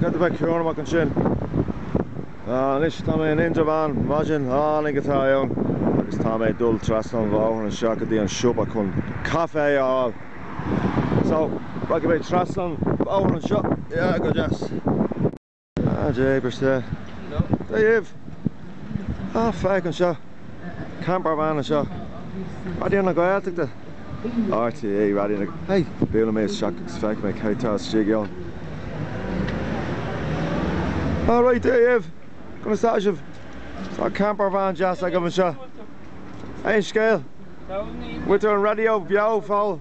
Cad é, a bheith cúramach ansin? Anois tá mé in Indreabhán, maidin an-deas atá ann agus tá mé ag dul trasna an bhóthair anseo go dtí an siopa chun caife a fháil. So, rachaidh mé trasna an bhóthair anseo, yeah, go deas. Ah Jay brisfidh mé dhibh! Ah feic anseo! Campervan anseo! Raidió na Gaeltachta! RTÉ Raidió na. Hey! Buaileann mé isteach agus feic mé cé tá istigh ann. Ah raight dhibh! Conas tá sibh? Tá campervan deas agaibh anseo. Aon scéal? Muintir an Raidió Beo Pobail?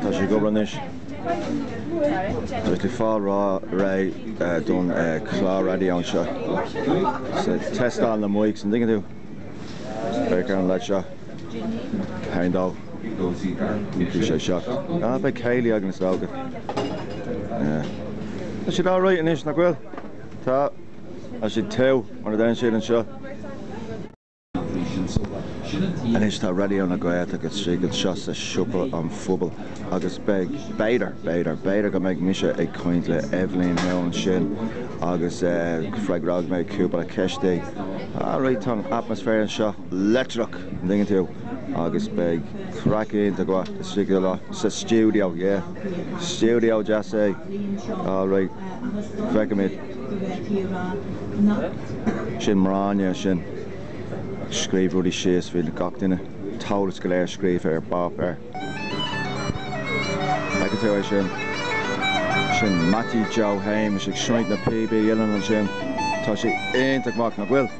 Tá sé ag obair anois. Tá tú ag fáil réidh don chlár raidió anseo. Tástáil na mics, an dtuigeann tú? Beidh ceann leid seo. Haon dó. Bhí sé seo. Beidh céilí againn is dócha. Tá siad alright anois, nach bhfuil? Tá. Tá siad tiugh mar a dein siad anseo. Anois tá Raidió na Gaeltachta istigh anseo sa Siopa an Phobail agus beidh, b'fhéidir, b'fhéidir, b'fhéidir go mbeidh mise ag caint le Eibhlín Leo ansin agus freagróidh mé cúpla ceist. Ara, tá an atmaisféar anseo leictreach, an dtuigeann tú, agus beidh craic iontach mhaith istigh sa stiúideo, yeah, stiúideo deas é. Alright, feicfimid. Sin Máirín ansin. Scríobh rudaí síos faoi gach duine, an t-eolas go léir scríofa ar pháipéar. Feiceann tú é sin? Sin Meaití Joe Shéamais ag seinnt na píobaí uilleann ansin. Tá sé iontach maith, nach bhfuil?